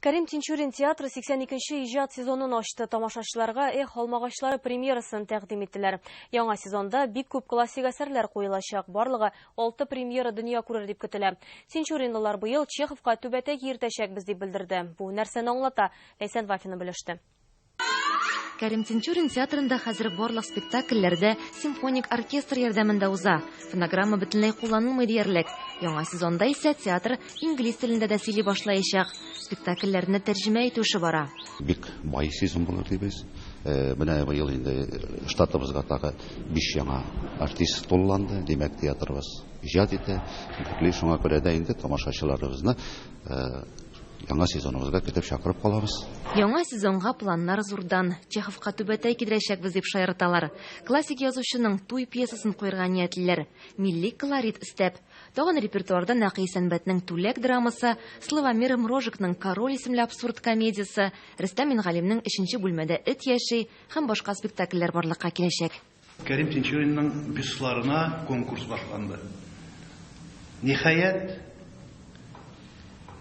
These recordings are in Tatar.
Кәрим Тинчурин театры 82 нче иҗат сезонын ачты. Тамашачыларга Эх, алмагачлары премьерасын тәкъдим иттеләр. Яңа сезонда бик күп классик әсәрләр куелачак. Барлыгы 6 премьера дөнья күрер дип көтелә. Тинчуринлылар быел Чеховка түбәтәй киертәчәкбез дип белдерде. Бу нәрсәне аңлата? Ләйсән Вафина белеште. Кәрим Тинчурин театрында хәзер барлык спектакльләр дә симфоник оркестр ярдәмендә уза. Фонограмма бөтенләй кулланылмый диярлек. Яңа сезонда исә театр инглиз телендә дә сөйли башлаячак. Спектакльләрне тәрҗемә итү эше бара. Бик бай сезон булыр дибез. Э, менә быел инде э, штатыбызга тагы биш яңа артист тулланды. Димәк, театрыбыз иҗат итә. Шуңа күрә дә инде тамашачыларыбызны э, Яңа сезоныбызга көтеп чакырып калабыз. Яңа сезонга планнар зурдан. Чеховка түбәтәй кидерәчәкбез дип шаярталар. Классик язучының Туй пьесасын куерга ниятлиләр, милли колорит өстәп. Тагын репертуарда Нәкый Сәнбәтнең Түләк драмасы, Славомир Мрожикның Король исемле абсурд комедиясе, Рөстәм Мингалимнең Өченче бүлмәдә эт яши һәм башка спектакльләр барлыкка киләчәк. Кәрим Тинчуринның бюстларына конкурс башланды. Ниһаять,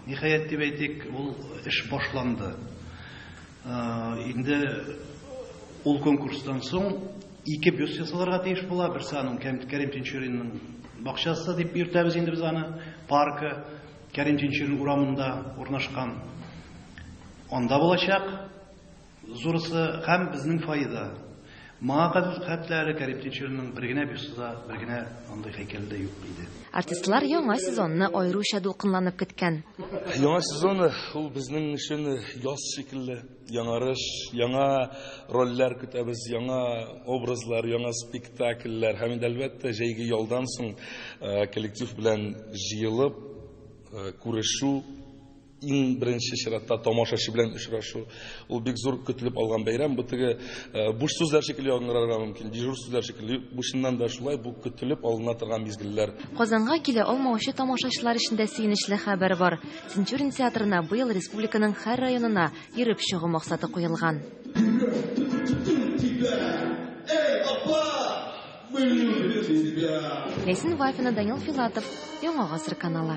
ниһаять дип әйтик, ул эш башланды. Инде ул конкурстан соң ике бюст ясаларга тиеш була. Берсе аның Кәрим Тинчуринның бакчасы дип йөртәбез инде без аны, паркы Кәрим Тинчурин урамында урнашкан. Анда булачак. Зурысы һәм безнең файда. Моңа кадәр хәтта әле Кәрим Тинчуринның бер генә бюсты да, бер генә андый һәйкәле дә юк иде. Артистлар яңа сезонны аеруча дулкынланып көткән. Яңа сезон ул безнең өчен яз шикелле. Яңарыш, яңа рольләр көтәбез, яңа образлар, яңа спектакльләр һәм инде, әлбәттә, җәйге ялдан соң коллектив белән җыелып күрешү. Иң беренче чиратта тамашачы белән очрашу. Ул бик зур көтелеп алган бәйрәм. Бу теге э, буш сүзләр шикелле яңгырарга мөмкин, дежур сүзләр шикелле. Бу чыннан да шулай, бу көтелеп алына торган мизгелләр. Казанга килә алмаучы тамашачылар өчен дә сөенечле хәбәр бар. Тинчурин театрына быел республиканың һәр районына йөреп чыгу максаты куелган. Ләйсен Вафина, Данил Филатов, Яңа гасыр каналы.